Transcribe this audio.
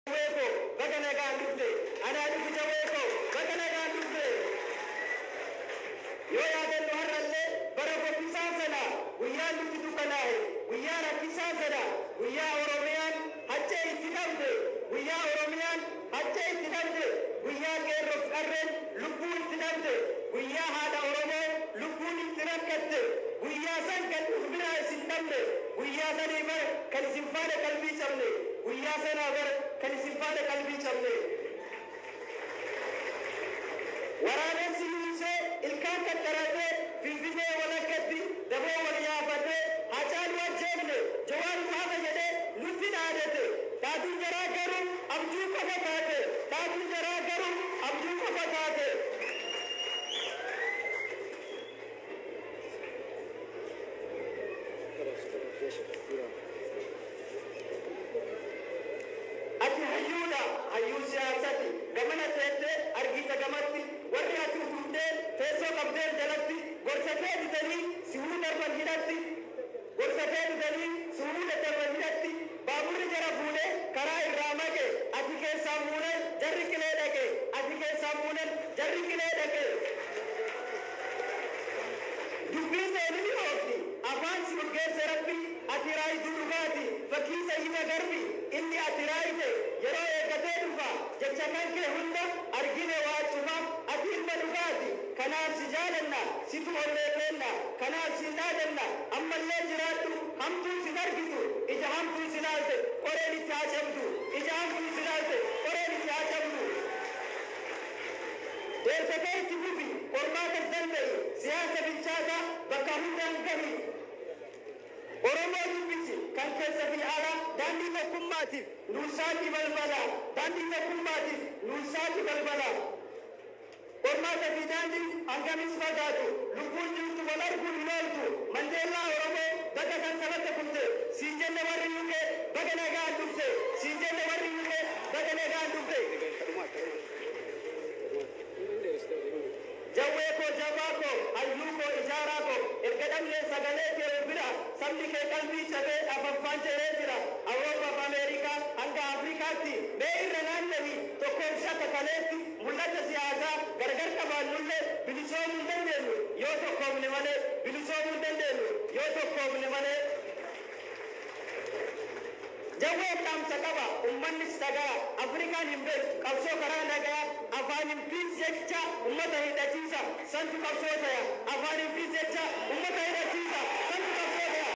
Jawwee koo baga nagaan dhufte. Anaa dhufu jawwee koo baga nagaan dhufte. Yoo yaadannu har'allee bara fokkisaa sana guyyaan nutti dukkanaa'e guyyaa rakkisaa sana guyyaa Oromiyaan haccee itti dhabde guyyaa Oromiyaan haccee itti dhabde guyyaa qeerroof qarreen lubbuu itti dhabde guyyaa haadha Oromoo lubbuun itti rakkatte guyyaa san kan uf biraa isin dhabne Guyyaa sanii bar kan isin faana qalbii cabne Guyyaa sanaa bar kan isin faana qalbii cabne Waraabessi yuunsee ilkaan qaxxaratee Finfinee walakkatti daboo wal yaafatee Haacaaluu ajjeefne Jawaartu hafe jedhee nutti dhaadate Dhaatuun jaraa garuu abjuu qofa taate Dhaatuun jaraa garuu abjuu qofa taate. Ati hayyuudha, hayyuu siyaasati. Gamana teettee argiita gamatti. Warri ati utubdee teessoo qabdeef jalatti. Gorsa kee didanii si huu darban hidhatti. Gorsa kee didanii si huu daddarban hidhatti. Baaburri jara fuudhee karaa irraa maqe. Ati keessaa muunan jarri qilee dhaqe. Ati keessaa muunan jarri qilee dhaqe. Dubbii seeni dhi'oofti, afaan si urgeesse Rabbi ati raayituu dhugaati. Fakkii Sayyida Garbi inni ati raayite yeroo eeggatee dhufa jecha kan kee hunda argine waa cufa ati ilma dhugaati kanaaf si jaalanna situ onnee keenna kanaaf sii dhaadanna ammallee jiraadhu hamtuun sin argitu ija hamtuun si laalte qoreen itti haa cabdu ija hamtuun si laalte qoreen itti haa cabdu. Deessatee itti fufi, qormaatas danda'i, siyaasa bilchaataa bakka hundaan gahi. Oromoo dubbisi, kan keessa fi alaa. Daandii tokkummaatiif nuuf saaqi balbala. Daandii tokkummaatiif nuuf saaqi balbala. Qormaata fi daandiin hangamis fagaatu, lubbuun jirtu wal arguu hin ooltu. Mandeellaa Oromoo baga sansalata kufte siin jenna warri UK baga nagaan dhufte siin jenna warri UK baga nagaan dhufte. Jawwee koo jabaa koo hayyuu koo ijaaraa koo erga dhabnee sagalee kee nu bira sabni kee qalbii cabee afaffaan jedhee jira Awurooppaaf Ameerikaa hanga Afrikaatti mee irra naanna'ii tokkoof shakka kaleetti mul'ata siyaasaa gargar qabaannullee bilisoomuu hin dandeenyu yoo tokkoomne malee bilisoomuu hin dandeenyu yoo tokkoomne malee. Jawween dhaamsa qaba, ummannis dhaga'a, Afrikaan hin beektu qabsoo karaa nagaa, Afaanin fi jecha ummata hidhachiisa, santu qabsoo taya, Afaanin fi jecha ummata hidhachiisa, santu qabsoo taya.